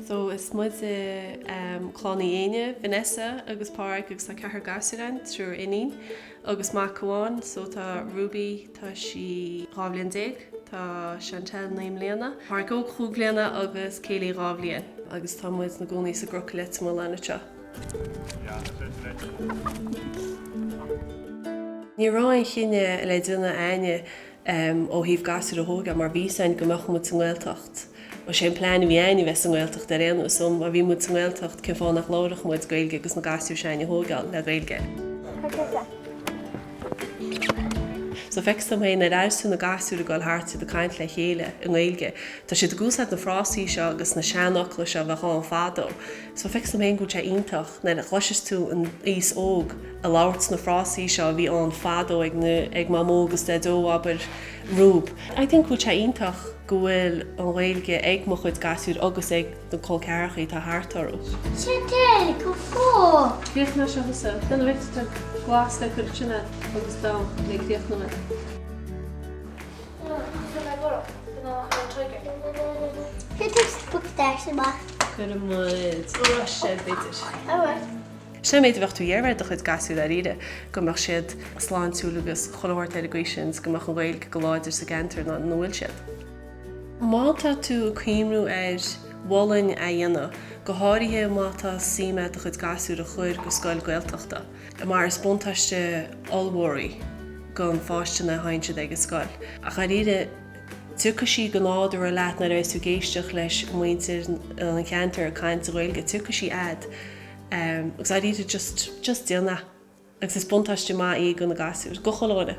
So is muid i em, Clann Uí Éinne, Vanessa agus Páraic agus tá ceathar gasúir a'inn, triúr iníon agus mac amháin so tá Ruby tá sí dhá bhliain déag, tá Chantel naoi mbliana, Páraic óg cúig bhliana agus Kayleigh dhá bhliain agus tá muid na gcónaí sa gCroc i Leitir Mealláin anseo. Ní raibh aon chinneadh le déanamh a'inne ó thaobh gasúir a thógáil mar bhí 's a'inn go mbeadh muid sa nGaeltacht. Bhuel sé an plean a bhí a'inne bheith sa nGaeltacht ar aon nós so má bhí muid sa nGaeltacht cén fáth nach labharfadh muid Gaeilge agus na gasúir se'ainne a thógáil le Gaeilge. So feictear dhom féin go bhfuil sé ar fheabhas, you know, na gasúir ag goil thart is iad ag caint le chéile i nGaeilge. Tá siad ag úsáid na frásaí seo agus na seanfhocla seo a bhíodh ann fadó. So feictear dhom féin go bhfuil sé iontach nuair a chloiseas tú an aos óg a labhairt na frásaí seo a bhí ann fadó ag na, ag mamó agus daideo abair, Ruby. I think go bhfuil sé iontach go bhfuil an Ghaeilge ag mo chuid gasúir agus ag na col ceathracha atá thart orthu. Seo te, go fóill. Féach mar seo thusa, den bhfeictear glas le cuirteanna agus dá ag féach na. Tá mé borradh. Gnách ar an Trigger. Put a spectacle amach. Cuireann muid roinnt sé b'fhéidir. All right. Sin an méid a bheadh tú ag iarraidh do chuid gasúir dháiríre, go mbeadh siad sláintiúil agus chun a thabhairt ar an gcaoi sin is go mbeadh an Ghaeilge go láidir sa gceantar ina bhfuil siad. Má tá tú ag cuimriú ar Bhéarla a dhéanamh, go háirithe má tá suim a'd do chuid gasúir a chur go scoil Gaeltachta, Tá mar is buntáiste ollmhór í go na páistí ina dhiaidh sin ag an scoil. Ach dháiríre, tiocfaidh sí go nádúrtha leat nuair a bheidh tú ag éisteacht le muintir an cheantair ag caint sa Ghaeilge, tiocfaidh sí a'd. Agus dháiríre, just, just déan é. Agus is buntáiste maith í do na gasúir, do chuile dhuine.